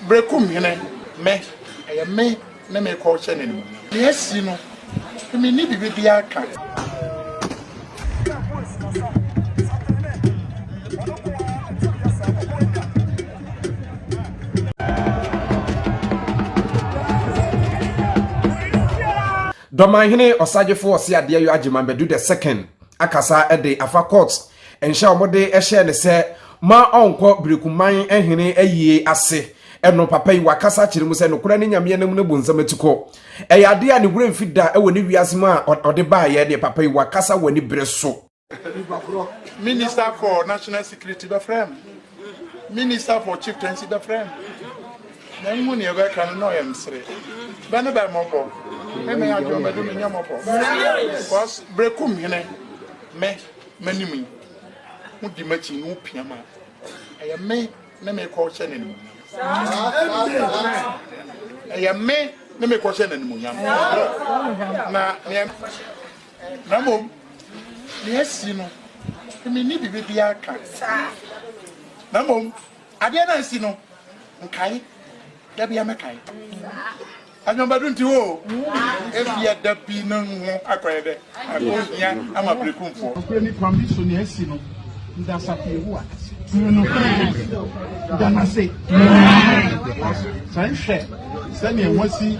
Berekum hene, me, ɛyɛ me ne me kɔ hyɛ n'animuonyam. Nea asi no, menni biribi biara ka. Dɔmanhene Ɔsagyefo Ɔseadeɛ Yo Agyeman Badu the Second akasa de afa court Nhyɛ a wɔde hyɛɛ no sɛ ma ɔnkɔ Berekumman hene ayie ase no, papa yi wakasa akyerɛ mu sɛ nokorɛ ne Nyame anam no bonsam atukɔ. Ɛyɛ adeɛ a ne werɛ mfi da wɔ ne wiase mu a ɔde baeɛ deɛ, papa yi wakasa wɔ anibere so. Minister for National Security bɛfrɛɛ me, Minister for Chieftaincy bɛfrɛɛ me, manhu deɛ ɛbɛka no, na ɔyɛ mesere. Bɛ ne bɛ mmɔbɔ, me me adwene ɔmɛde menyɛ mmɔbɔ, cos Berekum hene, me. m'anim yi, modi m'akyi na wopia ma ɛyɛ me ne mekɔhyɛ no animuonyam. Ɛyɛ me ne mekɔhyɛ no animuonyam. Na neɛ na mmom neɛ asi no menni biribi biara ka na mmom adeɛ no ansi no nkae Da bi amɛkae. Anyɔnbadu nti hɔ o. Ebia da bi no ho akɔyɛ dɛ. Akɔ hia ama berekumfoɔ. Nokorɛ ne kwan bi so na asi no. Da Asafo Yehowa ase. Nokorɛ, da no ase. San hwɛ sɛdeɛ wɔasi.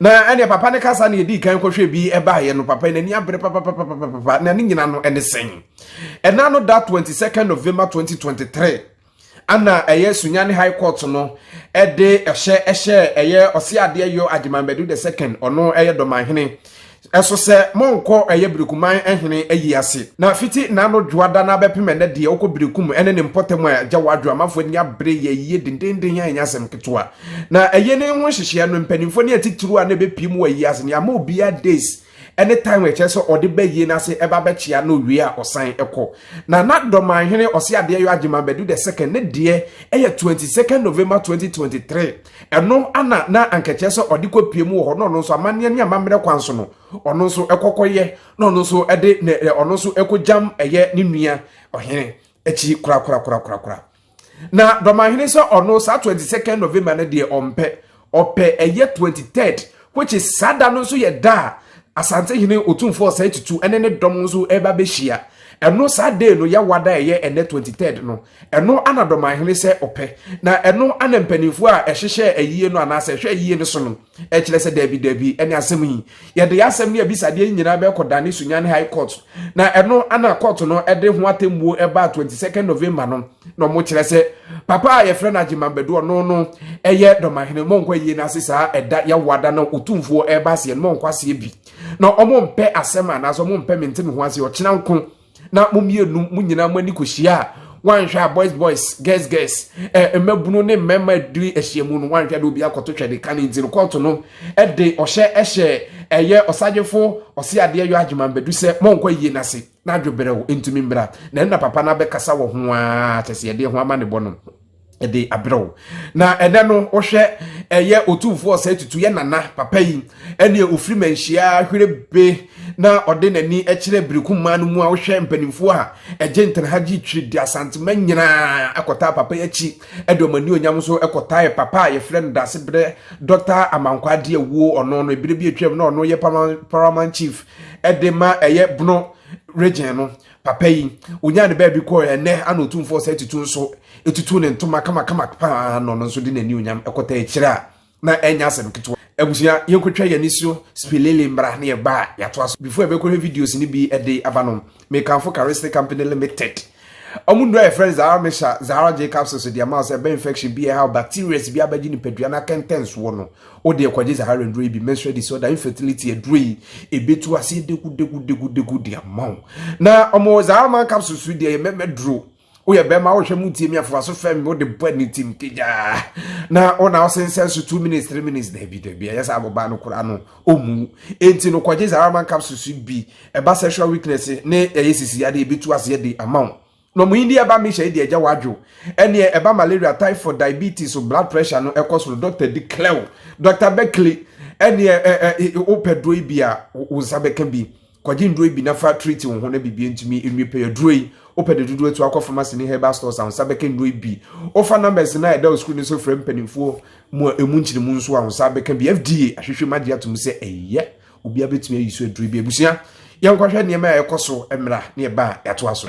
na ɛne papa no kasa na ɛdii kan kɔhwɛ bi ɛbaeɛ no papa n'ani abere papapapapapa na ne nyina no ɛne sɛn ɛna no da 22 november 2023 ana ɛyɛ sunyane high court no ɛde ɛhyɛ ɛhyɛ ɛyɛ ɔse adeɛ yɔ agyeman bɛdu the second ɔno ɛyɛ dɔmanhene Ɛso sɛ monkɔ ɛyɛ Berekumman hene ayi ase. Na fiti n'ano dwoada no ara bɛpem ɛnnɛ deɛ ɔkɔ Berekum ne ne mpɔtam a agya Wadwo amanfoɔ ani abere yɛ ayie dendeenden a ɛnyɛ asɛm ketewa. Na ɛyɛ ne ho nhyehyeɛ no mpaninfoɔ ne atitiriw a na ɛbɛpie mu wɔ ayie ase no yɛama obiara days ne time a ɛkyerɛ sɛ ɔde ba ayie no ase ɛba bɛkyea na owie a ɔsan kɔ. Na na Dɔmanhene Ɔseadeɛyɔ Agyeman Badu the second ne deɛ ɛyɛ 22nd November 2023. Ɛno na na anka ɛkyerɛ sɛ ɔde kɔpie mu wɔ hɔ na ɔno nso amanneɛ ne amammerɛ kwan so no, ɔno nso kɔkɔyɛ na ɔno nso de ɔno nso kɔgyam ɛyɛ ne nua ɔhene akyi korakorakorakorakora. Na dɔmahene sɛ ɔno saa 22nd November no deɛ ɔmpɛ, ɔpɛ ɛyɛ 23rd which is saa da no nso yɛ da a Asantehene Otumfoɔ Ɔsɛe Tutu ne ne dɔm nso ɛba bɛhyia. Ɛno saa day no yɛwɔ ada ɛyɛ ɛnɛ 23rd no Ɛno na dɔmanhene sɛ ɔpɛ, na ɛno na mpanimfoɔ a ɛhyehyɛ ayie no anaasɛ ɛhwɛ ayie no so no kyerɛ sɛ daabi daabi ɛne asɛm yi. Yɛde yɛ asɛm ne abisadeɛ yi nyinaa bɛkɔ dane Sunyani High Court, na ɛno na court no de ho atemmuo ɛbaa 22 November no, na wɔn kyerɛ sɛ papa a yɛfrɛ no Agyeman Badu ɔno no ɛyɛ dɔmanhene, mɔnkɔ ayie no ase saa ɛda yawoa da na otumfoɔ ɛreba aseɛ no, mɔnkɔ aseɛ bi, na wɔn mpɛ asɛm anaasɛ wɔn mpɛ mente me ho aseɛ, ɔkyena nko. na mo mmienu mo nyinaa mo ani kɔhyia a wanhwɛ a boys boys girls girls eh, mmabunu ne mmarima adiri ahyiamu no wanhwɛ de obi akɔto twɛ de ka ne nti no kɔɔto no de ɔhyɛ ɛhyɛ ɛyɛ ɔsadwefo ɔse adeɛ yɔ adwuma mbɛdu sɛ mɔnkɔ ayie no ase na adwoberɛw ntumi mmra na ɛna papa no abɛkasa wɔ ho a kyɛ sɛ yɛde ho ama ne bɔ no de abrɛ wo na ɛnɛ no wohwɛ ɛyɛ otumfoɔ ɔsɛe tutu yɛ nana papa yi ɛneɛ ɔfiri manhyia hwere be na ɔde n'ani kyerɛ biriku mmaa no mu a wohwɛ mpanimfoɔ a ɛgye ntena ha gye twiri de asantema nyinaa ɛkɔtaa papa yi akyi ɛde ɔma ni onyam nso ɛkɔtaeɛ papa a yɛfrɛ no daase berɛ dɔta amankwa adeɛ wuo ɔno no ebire bi atwam na ɔno yɛ paramount chief ɛde ma ɛyɛ bono region no papa yi onyaa ne baabi kɔɔ ɛnɛ ana otumfoɔ sɛ tutu nso etutu ne ntoma kamakama paa na ɔno nso de n'ani onyam ɛkɔta akyire a na ɛnyɛ asɛm ketewa abusua yɛnkɔtwa yɛn ani so spilili mbra ne ɛba a yɛato aso before ɛbɛkɔhwɛ videos no bi ɛde aba no mekanfo karisne company limited ɔmo nnuro a yɛfrɛ no zahara mesha zahara j capsules deɛ ma sɛ ɛbɛ infection bi ɛha bacterias bi abɛgye nipadua no akɛntɛnsoɔ no Wo deɛ kɔgye saa awerɛnduro yi bi, menstrual disorder, infertility aduro yi, ɛbɛtu aseɛ degudegudegu de ama wo. Na ɔmo saa ama capsule so deɛ yɛ mɛmɛ duro. Woyɛ bɛrima wohwɛ mu tie mi afoa so fɛm mi wode bɔ ani tim kegyaa. Na wo na wosensɛn so two minutes three minutes daabi daabi ɛyɛ saa abɔbaa no koraa no ɔmu. Enti no kɔgye saa ama capsule so bi ɛba sexual weakness ne ɛyɛ sisi adeɛ ɛbɛtu aseɛ de ama wo. Na wɔn yi deɛ ɛba mehyɛ yi deɛ agya wadwo ɛneɛ ɛba malaria typhoid diabetes so blood pressure no ɛkɔ soro doctor di clew doctor bɛkli ɛneɛ ɛ ɛ wopɛ duro yi bi a wo nsa bɛka bi kɔgye nduro yi bi na fa treat wo ho na biribi ntumi nwie pɛyɛ duro yi wopɛ de dodoɔ tu akɔ pharmacy ne herbal stores a wo nsa bɛka nduro yi bi wofa numbers no a ɛda wo screen no so frɛ mpanimfoɔ mu a ɛmu nkyerɛ mu nso a wo nsa bɛka bi FDA ahwehwɛ mu agye atom sɛ ɛyɛ Obiara bɛtumi ayi so aduro bi. Abusua, yɛnkɔhwɛ nneɛma a ɛkɔ so mmara ne ɛba a yɛatoa so.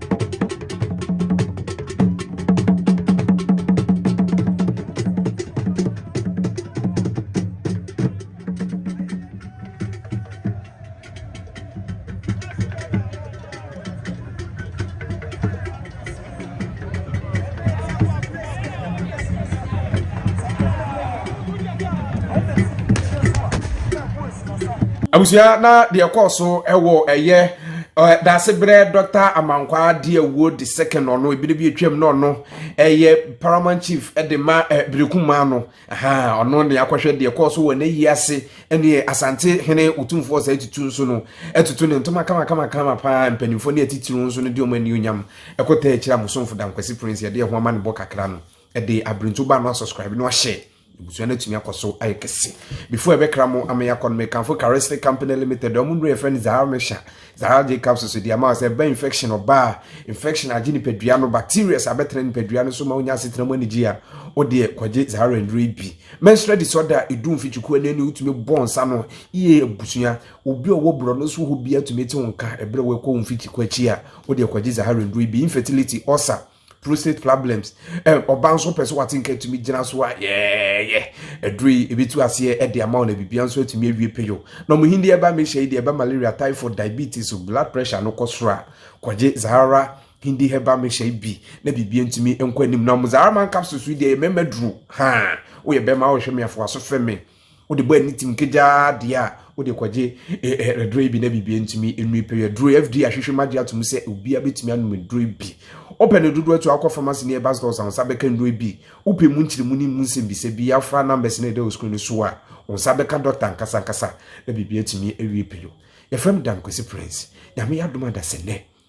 abusua na deɛ ɛkɔɔ so ɛwɔ ɛyɛ Daasebrɛ Dɔkta Amankwaa de awuo de sɛkɛ na ɔno ebire bi atwam na ɔno ɛyɛ paramount chief de ma Berekum maa no ɔno ne akɔhwɛ deɛ kɔɔ so wɔ n'ayi ase ne Asante hene otumfoɔ saa atutu nso no atutu ne ntoma kama kama kama paa mpanimfoɔ ne atitiriw nso no de ɔmo ani onyam ɛkɔtaa akyire a Mosomfo Dankwasi Prince yɛde ɛho ama ne bɔ kakra no ɛde abirinto ba no asɔscribe no ahyɛ Ebusua no atumi akɔ so ayɛ kɛse. Before ɛbɛkra mo ama yɛakɔ no, mekamfo Charistic Company Limited, wɔn nnuro yɛfrɛ no Zahar Mesha, Zahar J capsules so de ama sɛ ɛba infection ɔbaa, infection agye nipadua no, bacteria sɛ abɛtena nipadua no so ma wonya asetena mu anigye a, wodeɛ kɔgye Zahar nnuro yi bi. Menstrual disorder a ɛdu mfikyikuo ani ani wotumi bɔ nsa no yie abusua, obi a ɔwɔ borɔno so hɔ biara tumi te wo nka ɛberɛ a wɔrekɔ wo mfikyikuo akyi a, wodeɛ kɔgye Zahar nnuro yi bi. Infertility, ulcer, prostate problems eh, ɔba nso pɛ sɛ wate nka atumi gyina so a yɛɛyɛ ɛduro yi ɛbɛtu aseɛ ɛde ama wo na biribia nso atumi awie peyo na ɔmo hindi ɛba mehyɛ yi deɛ ɛba malaria typhoid diabetes blood pressure no kɔ soro a kɔgye zahara hindi hɛba mehyɛ yi bi na biribia ntumi nkɔ anim na ɔmo zahara man capsules yi deɛ ɛyɛ mɛmɛ duro haa woyɛ bɛma wohwɛ me afoa so fɛ me wode bɔ ani tim kegyaa deɛ a wode kɔgye ɛduro yi bi na biribi ntumi nnui pɛ yɛ duro FDA ahwehwɛ mu agye atom sɛ obiara bɛtumi anom duro yi bi wopɛ no dodoɔ atu akɔ pharmacy ne ɛba stores a wo nsa bɛka nnuro yi bi wopɛ mu nkyerɛmu ne mu nsɛmbisa bi afra numbers ne ɛda wɔ screen no so a wo nsa bɛka dɔkta ankasa ankasa na biribi atumi awie pɛ yo yɛfrɛ me Dan Kwesi Prince nyame yɛ adom adasɛ nnɛ